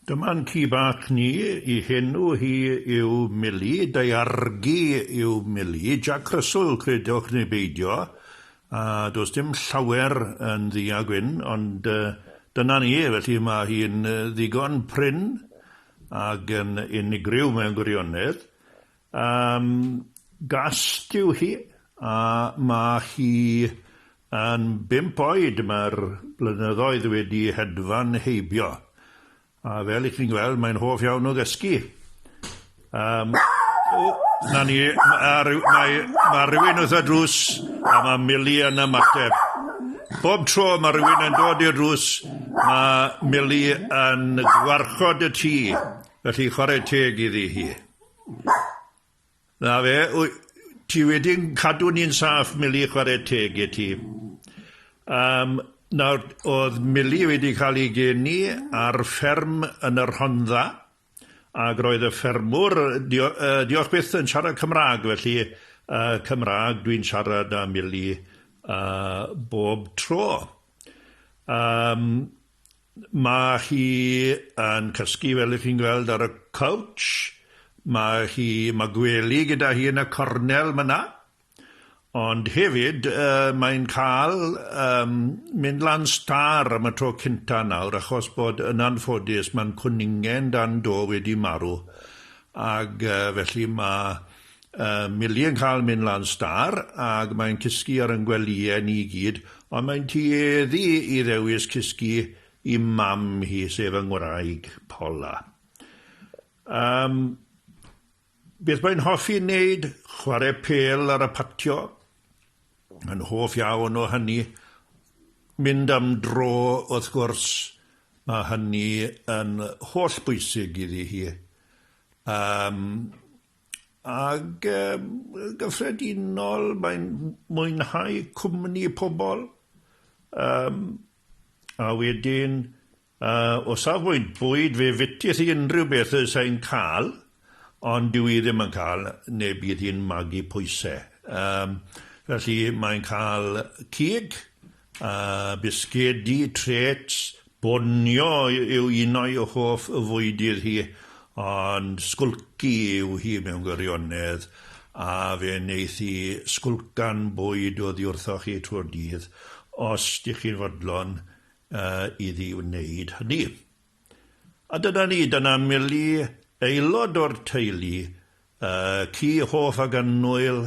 Dyma'n ci bach ni, i henw hi yw Mili, daeargi yw Mili, Jac Rysl credwch neu beidio, a does dim llawer yn ddu a gwyn, ond dyna ni, felly mae hi'n ddigon prin ac yn unigryw mewn gwirionedd, Yn gast yw hi a mae hi yn bump oed, mae'r blynyddoedd wedi hedfan heibio a fel i chi'n gweld mae'n hoff iawn o gysgu. Um, o, na ni, mae mae, mae rhywun wrth y drws a mae Millie yn ymateb. Bob tro mae rhywun yn dod i'r drws, mae Millie yn gwarchod y tŷ, felly chwarae teg iddi hi. Na fe, wy- ti wedi yn cadw ni'n saff, Mili, chwarae teg i ti. Um, nawr, oedd Mili wedi cael ei geni ar fferm yn y Rhondda, ac roedd y ffermwr, dio, uh, diolch byth, yn siarad Cymraeg, felly uh, Cymraeg dwi'n siarad â Mili uh, bob tro. Um, Mae hi yn cysgu fel 'ych chi'n gweld ar y couch. Mae hi... mae gwely gyda hi yn y cornel myna. Ond hefyd yy mae'n cael yym mynd lan stâr am y tro cynta nawr achos bod yn anffodus ma'n cwningen dan do wedi marw ag yy felly ma' Yy Millie yn cael mynd lan stâr ag mae'n cysgu ar yn gwelïe ni gyd ond mae'n tueddu i ddewis cysgu i mam hi sef yng ngwraig Paula. Yym beth mae'n hoffi neud? Chware pêl ar y patio. Yn hoff iawn o hynny. Mynd am dro wrth gwrs mae hynny yn holl bwysig iddi hi. Yym Ag yn gyffredinol, mae'n mwynhau cwmni pobl. Um, a wedyn, uh, o safbwynt bwyd, fe fytis i unrhyw beth y sain cael, ond dwi i ddim yn cael, neu bydd hi'n magu pwysau. Um, felly mae'n cael cig, A bisgedi, treats, bonio yw un o'i hoff fwydydd hi, ond sgwlci yw hi mewn gwirionedd, a fe wneith hi sgwlcan bwyd oddi wrthoch chi trwy'r dydd, os dych chi'n fodlon iddi wneud hynny. A dyna ni, dyna Milly, aelod o'r teulu, ci hoff ac annwyl